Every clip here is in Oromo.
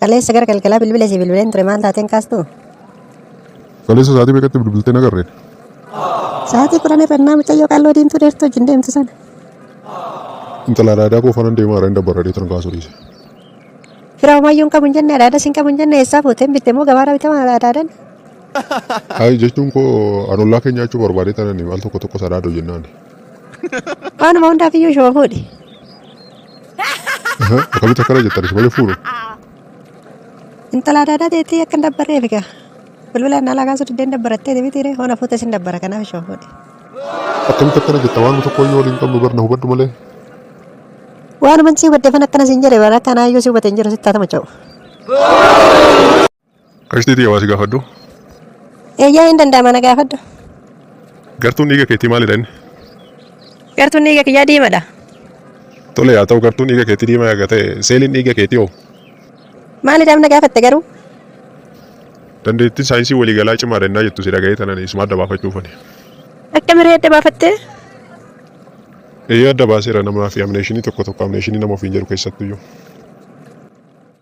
Kaleessa gara galgalaa bilbila si bilbileen ture maal taateen kaastu? Kaleessa sa'aatii meeqatti bilbiltee nagarre? Sa'aatii kudhan irra innaa mucayyoo qalloo diimtuu dheertuu wajjin deemtu sana. Intala adaadaa koo fanan deemaa irra hin dabbarra deetan kaasuu dhiise. Fira homaayyuu hin qabu hin jenne adaadas hin qabu hin jenne eessaa fuuteen bitte moo gabaarraa bitama adaadan? Hayi jechuun koo an ollaa kee nyaachuu barbaadee tanani al tokko tokko sadaadoo jennaan. Waanuma hundaaf iyyuu shoofuudhi. Akkamitti akkana jettan isin malee fuudhu. Intala adda addaa ta'etti akka hin dabbarre eegaa. Bilbila naalaa kaasuu diddeen dabbarattee deebitiire hoona fuute isin dabbara kanaaf ishoo fuudhe. Akkamitti akkana jetta waan tokko iyyuu waliin qabnu barna hubadhu malee. Waanuman si hubaddefan akkana siin jedhe bara akkanaa iyyuu si hubate hin jiru sitti haa tamacha'u. Qashtii tiyya waa si gaafadhu. Eeyyee hin danda'ama na gaafadhu. Gartuun dhiiga keetii maalidha inni? Gartuun dhiiga kiyyaa diimadha. Tole yaa ta'u gartuun dhiiga keetii diimaa yaga ta'e seeliin dhiiga keetii hoo? Maalidhaaf na gaafatte garuu? Dandeettiin saayinsii waliigalaa cimaadha innaa jettu si dhaga'ee tanan isuma adda baafachuufani. Akka miree adda baafattee? Eeyyee adda baaseera namaa fi amneeshinii tokko tokko amneeshinii nama ofiin jedhu keessattuyyuu.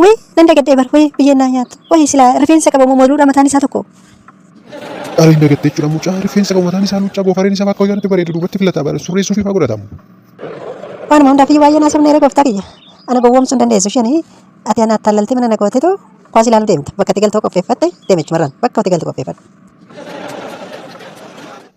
Wayii nan dagadhee bar wayii biyyeen naa nyaattu wayii silaa rifeensa qaba moo moduudha mataan isaa tokko. Dhaaliin dagattee jechuudha mucaa rifeensa qabu mataan isaa luuccaa goofareen isaa bakka hojaatti bareeda duubatti filataa bara surreessuu fi faa godhatamu. Waanuma hundaafii baay'ee naa sobneera gooftaa kiyya. Ana gowwoomsuu hin dandeessu isheen ati ana attaallaltee mana na gootetu kwaas ilaaluu deemta bakka itti galtoo qopheeffatte deemichumarraan bakka itti galtu qopheeffadhu.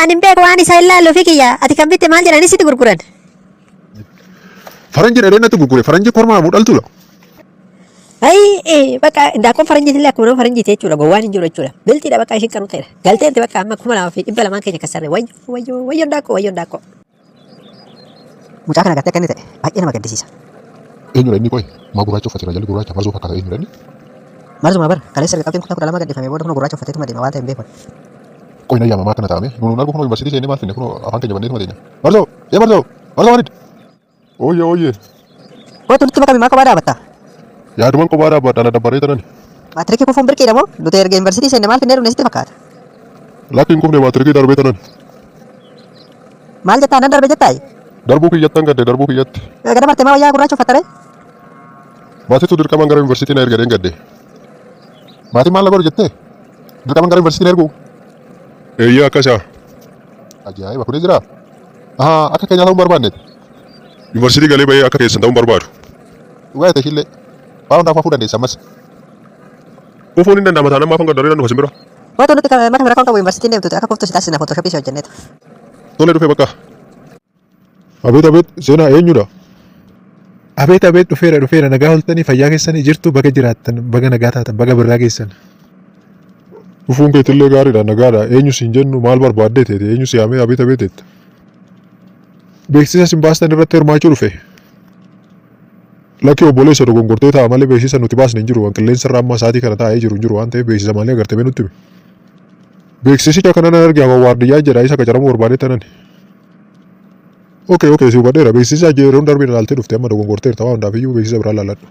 Ani hin beeku waan isa ilaallu fi kiyya ati kan bitte maal jedhanii sitti gurguran. Faranji dhadhee natti gurgure faranji kormaa moo dhaltuudha. Ayi bakka daakkoon faranjiin illee akkuma nama faranjiiti jechuudha gowwaan hin jiru jechuudha. Bilxiidha bakka ishiin qaruuteedha. Galteetti bakka amma kuma lamaa fi dhibba lamaan keenya kassarre wayyo wayyo wayyoon daakkoo wayyoon daakkoo. Mucaa kana agartee akka inni ta'e baay'ee nama gaddisiisa. Eenyudha inni qoy? Maa gurraacha uffate jira jalli gurraacha marzoo fakkaata eenyudha inni? Marzumaa bar kaleessa erga qabxiin kutaa kudha lama gadhiifamee booda kunoo gurraacha uffateetuma deema waan ta'e hin beeku. Qoy na yaama maa akkana ta'ame? Nuun argu kunoo yuunivarsiitii seennee maal finne kunoo afaan keenya banneetuma teenya. Marzoo! Yee marzoo! Marzoo Walid! Ooyye ooyye. Kootu nutti makami maa kophaa dhaabatta? Yaaduman kophaa dhaabbadha na dabbaree tanani. Maatirikii kufuun birqiidha moo? Nuti erga yuunivarsiitii seenne maal finnee dhufne sitti fakkaata? Lakki hin kufne maatirikii darbee tanani. Maal jettaa nan darbe jettaa? Darbuu kiyyattan gadde darbuu kiyyatti. Gada martee maa wayyaa gurraacha uffattaree? Maatiitu dirqamaan gara yuunivarsiitii na ergadheen gadde. Maatiin maal na godhu jettee? Dirqamaan gara yuunivarsiitii na ergu? Eeyyee akkasaa. Ajaa'iba kunis jira. Ahaa akka keenyaa ta'uu hin barbaanneeti. Yuunivarsiitii galee bahee akka keessan ta'uun barbaadu. Dhugaa jette ishillee. Waa hundaaf hafuu dandeessa ammas. Kufuun hin danda'ama taanaan maaf hanga daree nan dhufa simbira. Waanti nuti kan mata rakkoon qabu yuunivarsiitiin deemtuuti akka kuftu si taasisna footooshooppii si hojjenneetu. Tole dhufee bakka. Abeet abeet seenaa eenyudha? Abeet abeet dhufeera dhufeera nagaa oltanii fayyaa keessanii jirtu baga jiraattan baga nagaa taatan baga birraa geessan. Dhufuun keetillee gaariidha nagaadha eenyu siin jennu maal barbaaddee teete eenyu si yaamee abeet abeet jetta. Beeksisa sin baastan irratti hirmaachuu dhufe. Lakkii obboleessa dogongortee ta'a malee beeksisa nuti baasne hin jiru waan qilleensa irra amma sa'aatii kana taa'ee jiru hin jiru waan ta'eef beeksisa malee agartee nutti himi. Beeksisicha kanan arge hawa waardiyyaa jedha isa qacaramuu barbaadee tanan. Okay, okay, si hubadheera. Beeksisa yeroon darbe ilaaltee dhufte amma dogongorteerta waan hundaaf iyyuu beeksisa biraa ilaaladhu.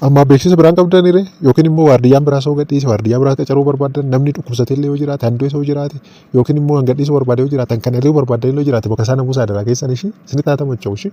Amma beeksisa biraan qabdan irree yookiin immoo waardiyyaan biraa soo gadhiise waardiyyaa biraa qacaruu barbaaddan namni dhukkubsatee illee yoo jiraate handoo soo jiraate yookiin immoo hangadhiisuu barbaade yoo jiraatan kan irree barbaaddan illee yoo jiraate bakka isaa namuusaa daraa keessan ishii isinitti haa tamacha'u ishii.